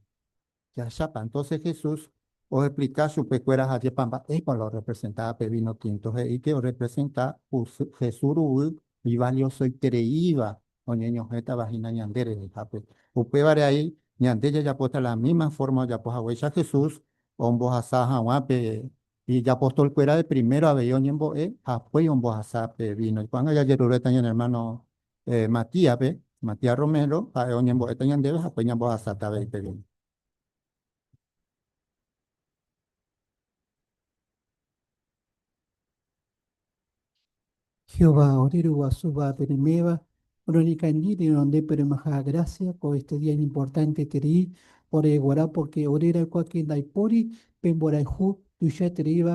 Jahechápa, entonces Jesús oexplica chupekuéra ajépa mba'épa la orrepresenta pe vino tinto. He'i que orrepresenta ku Jesús ruguy ivaliosoitereíva oñeñohẽtava hína ñande rehehápe. Upévare ai ñande jajapóta la misma forma ojapo haguéicha Jesús ombohasa hag̃ua pe ijapostolkuérape, primero avei oñembo'e ha hakuéi ombohasa pe vino. Ko'ág̃a jajeruréta ñane hermano Matías-pe, Matías Romero, ha'e oñembo'éta ñandéve ha pe ñambohasáta avei peve. Jehová, ore Ruguasúva peneméva, roñekangy renonde peremaha grásia ko éste día iñimportanteterei ore guarã pórke ore ra'ykuáke ndaipóri pemborayhu tuichaitereíva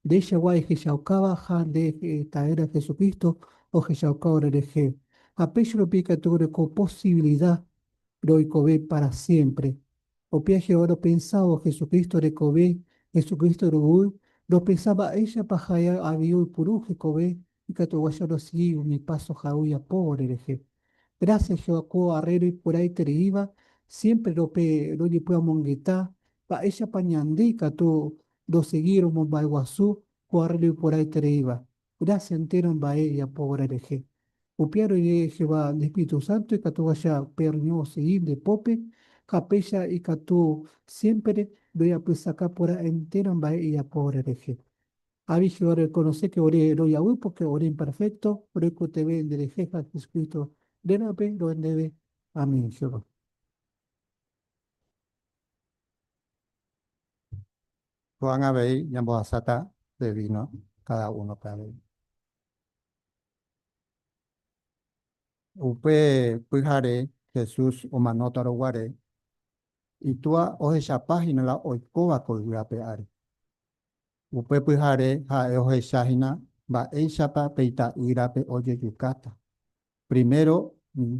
Ndeichagua ehechaukáva ha nde Ta'érã Jesucristo ohechauka orerehe. Ha péicha rupi ikatu reko posibilida roikove pára siémpre. Upéva Jehová ropensávo Jesucristo rekove, Jesucristo ruguy, ropensa mba'éichapa ha'e avei oipuru hekove ikatu oguacha rosegi umi paso ha'e ojapo orerehe. Grásias Jehová ko arre roikueraitereíva siémpre rope rojepy'amongeta mba'éichapa ñande ikatu ndosegírõ momba'eguasu ko arreglo iporãitereíva, gracia entéro mba'e ijapo va'erã rehe. Upéi roike Jehová nde espíritu sánto ikatuháicha pe reño osegi nde pópe, ha péicha ikatu siémpere ndojapysaka porã entéro mba'e ijapo va'erã rehe. Avei Jehová rorekonose ke ore rojaguy pórke ore imperfékto roikotevẽ nderehe ha Jesucristo rérape rohendeve. Amén, Jehová. Ko'ág̃a avei ñambohasáta pe víno káda únope avei. Upe pyhare Jesús omanóta roguare, Itúa ohechapa hína la oikóva ko yvy ape ári. Upe pyhare ha'e ohecha hína mba'éichapa pe ita'ýrape ojejukáta, Primero,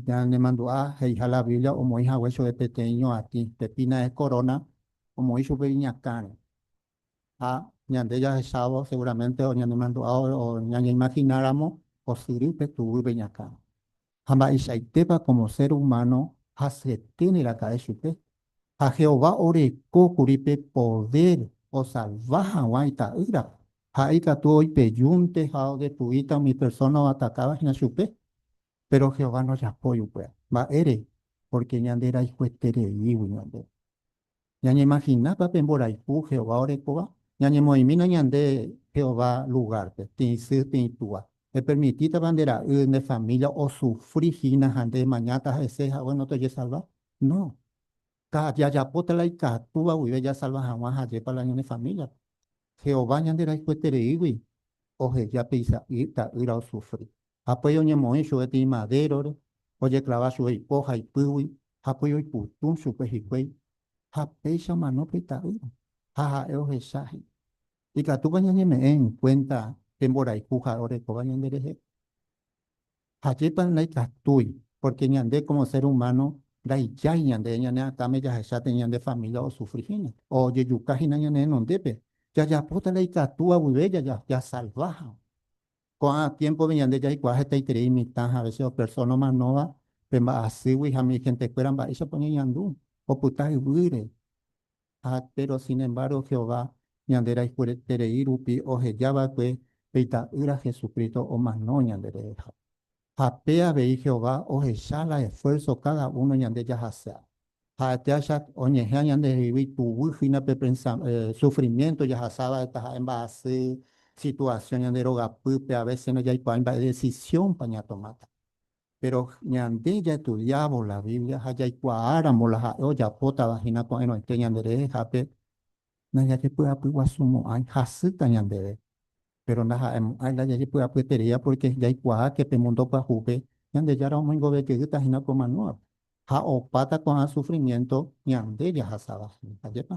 ñanemandu'a he'iha la Biblia omoĩ hague chove peteĩ ñoatĩ, pe pinae corona, omoĩ chupe iñakãre. Ha ñande jahechávo seguramente oñanemandu'a o ñañeimagináramo osyry pe tuguy pe iñakãre. Ha mba'eichaitépa como ser humano hasyete neraka'e chupe? Ha Jehová oreko kuri pe poder osalva hag̃ua Ita'ýrape. Ha'e ikatu oipejúnte ha odetuíta umi persóna oatakáva hína chupe. Péro Jehová ndojapói upéva. Mba'ére? Pórke ñanderayhuetereígui ñande. Ñañemaginápa pe mborayhu Jehová orekóva? Ñañemoĩmína ñande Jehová lugárpe, tĩi sy, tĩi túa. Epermitítava nde ra'y, nde família osufri hína ha nde emañáta ha'ese hague ndotojesalva? No. Jajapóta la ikatúva guive jasalva hag̃ua hajépa la ñane famíliape. Jehová ñanderayhuetereígui oheja pe isa'y ta'ýra osufri. Hapýi oñemoĩ chupe peteĩ madérore, ojeklava chupe ipo ha ipýgui, hapýi oiputũ chupe hikuái, ha péicha omano pe ta'ýra, ha ha'e ohecha he'i. Ikatúpa ñañeme'ẽ enkuénta pe mborayhu ha orekóva ñanderehe? Ha jépare ndaikatúi, pórke ñande kómo sér umáno ndaijái ñande, ñane akãme jahecha tee ñande família osufri hína, ojejuka hína ñane renondépe. Jajapóta ndaikatúva guive jasalva hag̃ua. Ko'ã tiémpove ñande jaikuaa hetaiterei imitã ha avese opersona omanóva pe mba'asýgui ha migendekuéra mba'éichapa oñeñandu opyta yvýre. Ha péro sinembargo Jehová ñande raikuereterei rupi oheja va'ekue pe Ita'ýra Jesucristo omano ñandereheha. Ha pe avei Jehová ohecha la esfuérso káda uno ñande jahasa. Ha'etéacha oñehea ñandehegui tuguy hína pe sufrimiénto jahasávare taha'e mba'asy situasión ñande rogapýpe, avése nojaikuaái mba'e desisionpa ñatomáta. Péro ñande jaetudiávo la Biblia ha jaikuaáramo la ha'e ojapótava hína ko'ẽrõite ñanderehehápe, ndajajepy'apyguasumo'ãi. Hasýta ñandéve, péro ndaha'emo'ãi la jajepy'apyetereíva pórke jaikuaáke pe múndo pyahúpe Ñandejára omoingovejeýta hína ko manóape ha opáta ko'ã sufrimiénto ñande jahasáva hína. Ajépa!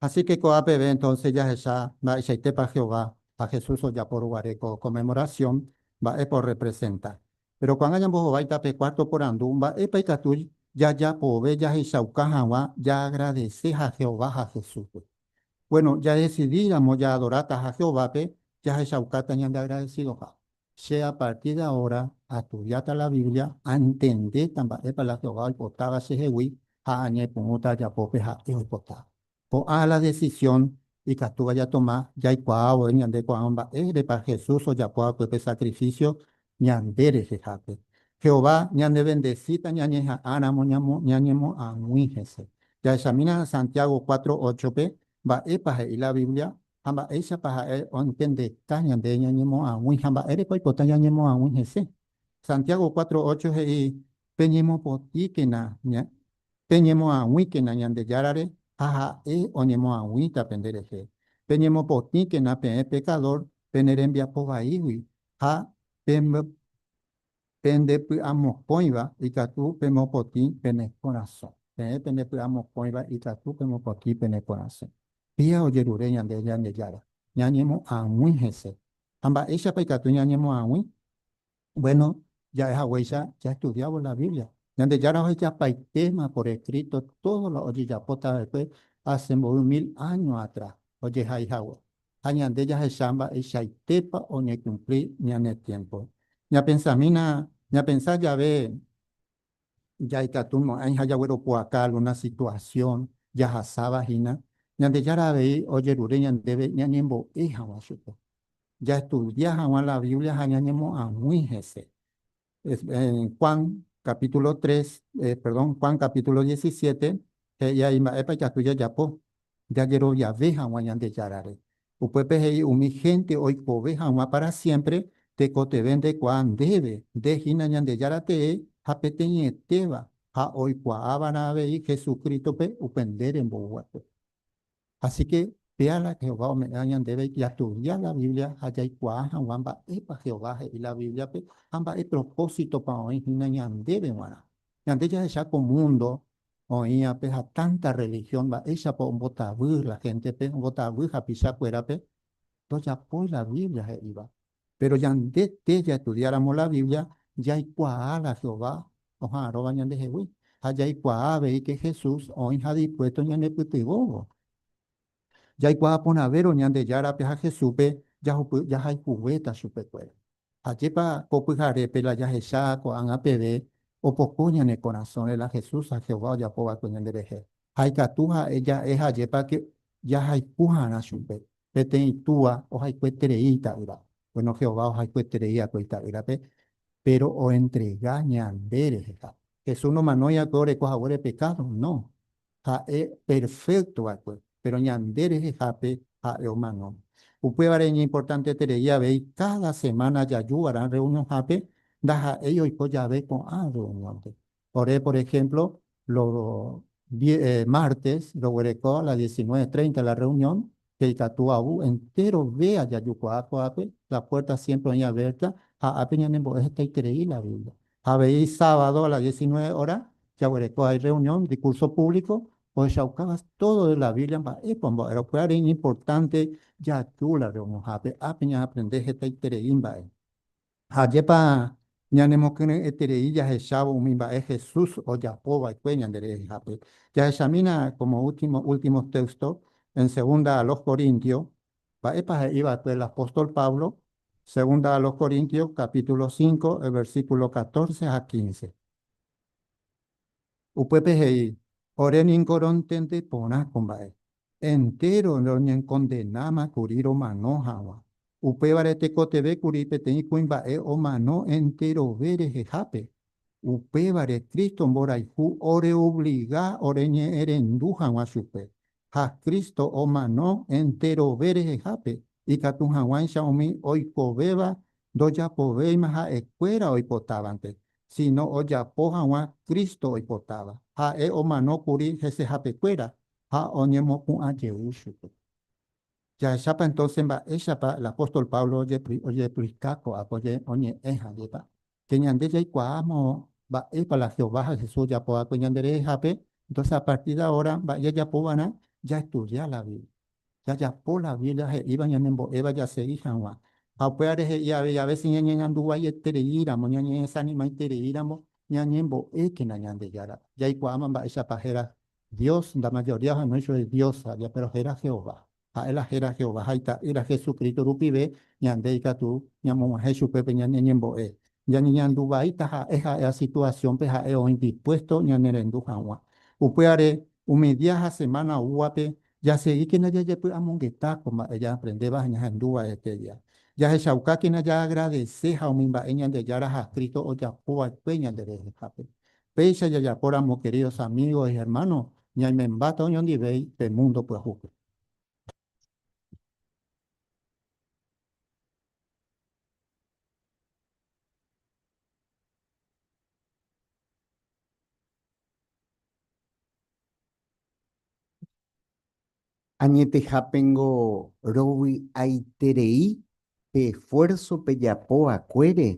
Así ke ko'ã peve entonce jahecha mba'eichaitépa Jehová ha Jesús ojapo ruguare ko Conmemoración mba'épa orrepresenta. Péro ko'ág̃a ñambohovái tape cuarto porandu mba'épa ikatu jajapove jahechauka hag̃ua jaagradese ha Jehová ha Jesúspe. Bueno, jadesidíramo jaadoráta ha Jehovápe, jahechaukáta ñandeagradesidoha. Che a partir de ahora astudiáta la Biblia, antendéta mba'épa la Jehová oipotáva chehegui ha añepyrũta ajapópe ha'e oipotáva. Ko'ã la decisión ikatúva jatoma jaikuaávo ñande ko'ã mba'érepa Jesús ojapo hague pe sacrificio ñande rehehápe. Jehová ñandevendesíta ñañeha'ãramo ñañemoag̃ui hese. Jahechamína Santiago cuatro óchope mba'épa he'i la Biblia Ha mba'éichapa ha'e ointendeka ñande ñañemoag̃ui ha mba'éreko oipota ñañemoag̃ui hese? Santiago cuatro ocho he'i, Peñemopotĩkena, peñemoag̃uíkena Ñandejárare ha ha'e oñemoag̃uíta penderehe. Peñemopotĩkena peẽ pekadór pene rembiapo vaígui ha Pende py'amokõiva ikatu pemopotĩ pene korasõ. Peẽ pende py'amokõiva ikatu pemopotĩ pene korasõ. Pia ojerure ñande Ñandejára, ñañemoag̃ui hese. Ha mba'éichapa ikatu ñañemoag̃ui? Bueno, ja'e haguéicha jaestudiávo la Biblia. Ñandejára ohejapaitéma por escrito todo lo ojejapotava'ekue hace mboy mil áño atrás ojehai hague. ha ñande jahecha mba'eichaitépa oñekumpli ñane tiémpo. Ñapensamína, ñapensa jave jaikatu mo'ãi ha jagueropu'aka algúna situasión jahasáva hína, Ñandejára avei ojerure ñandéve ñañembo'e hag̃ua chupe. Jaestudia hag̃ua la Biblia ha ñañemoag̃ui hese. Juan capítulo 3, perdón, Juan capítulo 17, he'i ahí mba'épa ikatu jajapo, jajeroviave hag̃ua Ñandejárare. Upépe he'i umi hénte oikove hag̃ua pára siémpre tekotevẽ ndekuaa ndéve, nde hína Ñandejára tee ha peteĩetéva ha oikuaáva'erã avei Jesucrítope upe nde remboyguápe. Asíke péala Jehová ome'ẽva ñandéve jatudia la Biblia ha jaikuaa hag̃ua mba'épa Jehová he'i la Bíbliape ha mba'e propósitopa oĩ hína ñandéve g̃uarã. Ñande jahecha ko múndo oĩvape ha tántá rrelihión mba'éichapa ombotavy la héntepe, ombotavy hapichakuérape, ndojapói la Biblia he'íva. Péro ñande tee jaestudiáramo la Biblia, jaikuaa la Jehová oha'arõva ñandehegui ha jaikuaa avei ke Jesús oĩha dispuésto ñanepytyvõvo. Jaikuaa porãvérõ Ñandejárape ha Jesúspe jahupy jahayhuvéta chupekuéra. Ajépa ko pyharépe la jahecha ko'ág̃a peve opoko ñane korasõre la Jesús ha Jehová ojapo va'ekue ñanderehe! ha ikatu ha'e ja'e ha ajépa ke jahayhu harã chupe. Peteĩ túa ohayhueterei ita'ýra. Bueno, Jehová ohayhueterei akue Ita'ýrape, péro oentrega ñande reheha. Jesús nomanói akue oreko haguére pekádo, no. Ha'e perfékto va'ekue, péro ñande rehehápe ha'e omano. Upévare iñimportanteterei avei káda semána jaju va'erã rreunionhápe ndaha'éi oiko jave ko'ã rreuniónpe. Ore, por ehémplo, lo mártes roguereko a las diecinueve treinta la rreunión, pe ikatu avu entéro véa jajukuaa ko'ápe, la puérta siémpre oĩ avérta ha ápe ñanembo'e hetaiterei la Biblia. Ha avei sábado a las diecinueve óra, jaguereko hay rreunión de curso público, ohechaukáva tódo de la Biblia mba'épa ombo'érõ pyhare iñimportánte jaju la rreunionhápe, ápe ñaaprende hetaiterei mba'e. Ha ajépa ñanemokyre'ẽterei jahechávo umi mba'e Jesús ojapo va'ekue ñande rehehápe! Jahechamína kómo últimos téxtos en Segunda a los Corintios. Mba'épa he'i va'ekue el apóstol Pablo? Segunda a los Corintios capítulo cinco el versículo catorce ha quince. Upépe he'i, Ore ningo rontende porã ko mba'e, entéro roñekondenáma kuri romano hag̃ua. Upévare tekotevẽ kuri peteĩ kuimba'e omano enterove rehehápe. Upévare Cristo mborayhu oreobliga oreñe'ẽrendu hag̃ua chupe. Ha Cristo omano enterove rehehápe, ikatu hag̃uáicha umi oikovéva Ndojapovéima ha'ekuéra oipotávante, síno ojapo hag̃ua Cristo oipotáva. Ha'e omano kuri hesehapekuéra ha oñemopu'ã jey chupe. Jahechápa entónse mba'éichapa la póstol Pablo ojeplika ko'ã oñe'ẽ hag̃uipa? Che ñande jaikuaáma mba'épa la Jehová ha Jesús ojapo va'ekue ñanderehehápe, entónse a partir de ahora mba'e jajapo va'erã jaestudia la Biblia. jajapo la Biblia he'íva ñanembo'éva jasegi hag̃ua. Ha upévare he'i avei a vése ñañeñandu guaietereíramo, ñañeesanimaitereíramo ñañembo'ékena Ñandejára. Jaikuaáma mba'éichapa héra Dios, nda majoría ohenói chupe Dios aja, péro héra Jehová. Ha'e la héra Jehová ha Ita'ýra Jesucristo rupive ñande ikatu ñamog̃uahẽ chupe pe ñane ñembo'e. Ñañeñandu vaíta ha'e ha'éva situasiónpe ha'e oĩ dispuésto ñanerendu hag̃ua. Upévare, umi día ha semána oúvape, jasegíkena jajepy'amongeta ko mba'e jaaprendéva ha ñahendu va'eteia. Jahechaukákena jaagradese ha umi mba'e Ñandejára ha Cristo ojapo va'ekue ñanderehehápe. Péicha jajapóramo, queridos amigos y hermanos, ñaimembáta oñondivéi pe múndo pyahúpe. Añetehápengo rovy'aiterei pe esfuérso pejapo va'ekuére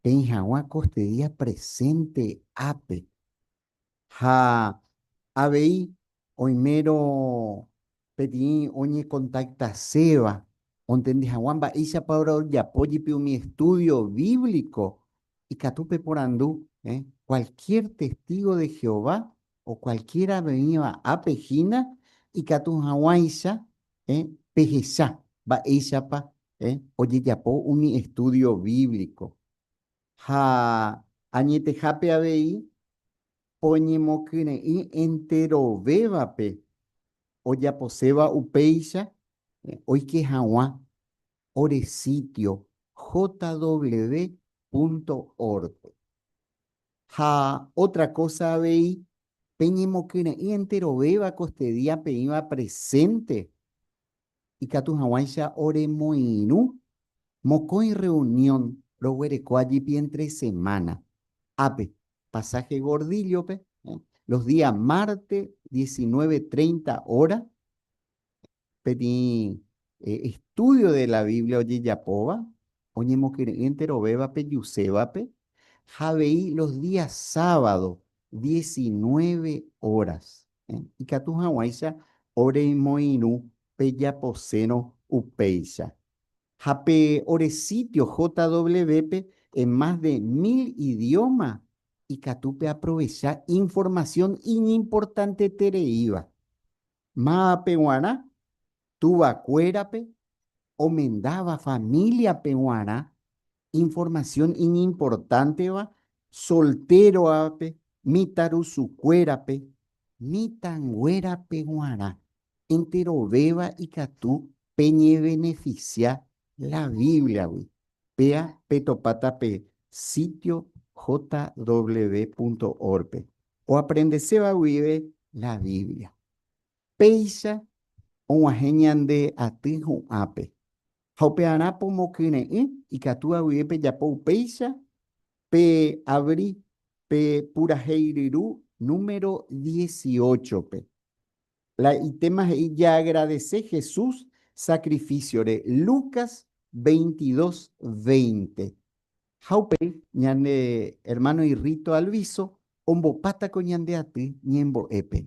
peĩ hag̃ua kostedía presénte ápe. Ha avei oimérõ peteĩ oñekontaktaséva ontendi hag̃ua mba'éichapa rojapo jepi umi estúdio bíblico, ikatu peporandu kualkiér testígo de Jehová o kualkiér avevẽva ápe hína ikatu hag̃uáicha pehecha mba'éichapa ojejapo umi estúdio bíblico. Ha añetehápe avei oñemokyre'ỹ enterovévape ojaposéva upéicha oike hag̃ua ore sítio jw.org-pe. Ha ótra kósa avei, peñemokyre'ỹ enterovéva kostedía peĩva presénte ikatu hag̃uáicha oremoirũ mokõi rreunión roguereko ajepi entre semana ápe, pasaje Gordillo-pe, los días martes diecinueve treinta hora, peteĩ estudio de la Biblia ojejapóva oñemokyre'ỹ enterovéva pejusévape, ha avei los días sábado diecinueve horas. ikatu hag̃uáicha oremoirũ pe japosérõ upéicha. Ha pe ore sítio JW-pe en más de mil idióma ikatu peaprovecha informasión iñimportantetereíva. Mávapa g̃uarã tuvakuérape omendáva famíliape g̃uarã Informasión iñimportánteva soltérovape, mitãrusukuérape, mitãnguérape g̃uarã enterovéva ikatu peñevenefisia la Bíbliagui, péa petopáta pe sítio jw.org-pe oaprendeséva guive la Biblia. Péicha og̃uahẽ ñande aty hu'ãpe, Ha upearã pomokyre'ỹ ikatu avye pejapo upéicha, pe avri pe purahéi ryru número dieciocho-pe. La itéma he'i jaagradese Jesús sakrifísiore, Lucas veintidós veinte. Ha upéi ñane ermáno irríto Alviso ombopátako ñande aty ñembo'épe.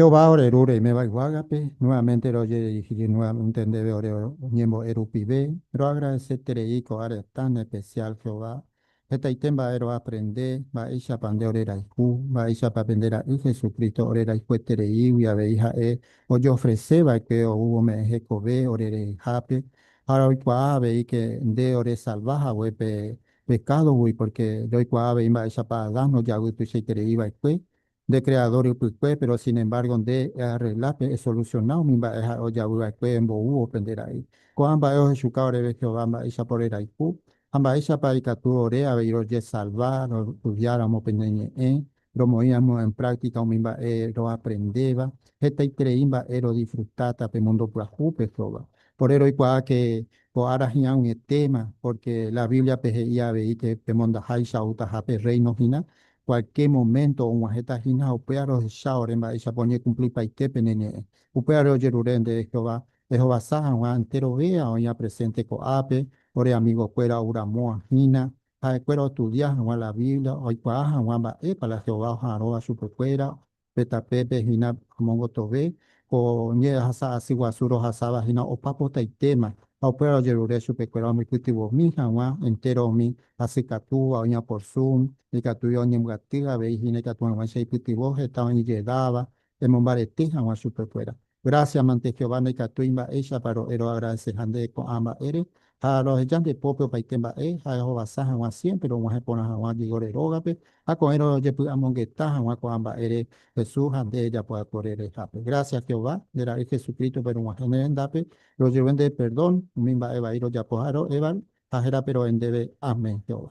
Jehová ore Ru reiméva yvágape, nuevamente rojedirigíri nuevamente ndéve ore oñembo'e rupive. Roagradeseterei ko'ã retã en especial Jehová. Hetaite mba'e roaprende, mba'éichapa nde ore rayhu, mba'éichapa pende Ra'y Jesucristo ore rayhuetereígui avei Ha'e ojofrese va'ekue oúvo me'ẽ hekove ore rehehápe. Ha'e oikuaa aveike nde oresalva hague pe pekádogui, pórke ndoikuaa avei mba'éichapa Adán nojavy tuichaiterei va'ekue nde Kreadór ypykue, péro sinembárgo nde earregla pe esolusiona umi mba'e ha'e ojavy va'ekue emboúvo pende ra'y. Ko'ã mba'e ohechuka oréve Jehová mba'éichapa orerayhu ha mba'éichapa ikatu ore avei rojesalva roestudiáramo pende ñe'ẽ romoĩramo en práctica umi mba'e roaprendéva, hetaiterei mba'e rodisfrutáta pe mundo pyahúpe sóva. Pore roikuaa que ko ára hi'ã ag̃uietéma, porque la Biblia-pe he'i avei que pemondaháicha outaha pe Reino hína, cualquier momento og̃uahẽta hína, upéva rohecha ore mba'éichapa oñekumplipaite pene ñe'ẽ. Upévare ojerure nde Jehová ehovasa hag̃ua enterovéva oĩva presente ko'ápe, ore amigokuéra ouramóva hína, ha'ekuéra ostudia hag̃ua la Biblia, oikuaa hag̃ua mba'épa la Jehová oha'arõva chupekuéra pe tapépe hína omongotove ko ñehasa asy guasu rohasáva hína opa potaitéma, ha upévare ojerure chupekuéra omypytyvõmi hag̃ua entéro umi asy katúva oñaporsu, ikatúi oñembyaty avei hína ikatu hag̃uáicha ipytyvõ heta oĩjedáva emombarete hag̃ua chupekuéra. Grásia mante Jehová ndaikatúi mba'éichapa ro'eroagradese ha nde ko'ã mba'ére, ha roheja nde pópe opaite mba'e ha ehovasa hag̃ua siémpre rog̃uahẽ porã hag̃ua Diego-re rógape ha ko'ẽ rojepy'amongeta hag̃ua ko'ã mba'ére Jesús ha nde japoakore rehehápe. Grásia Jehová, nde Ra'y Jesucrístope rog̃uahẽ ne rendápe, rojevy nde perdón umi mba'e vai rojapo ha ro'évare, ha hérape ro'e ndéve, Amén, Jehová.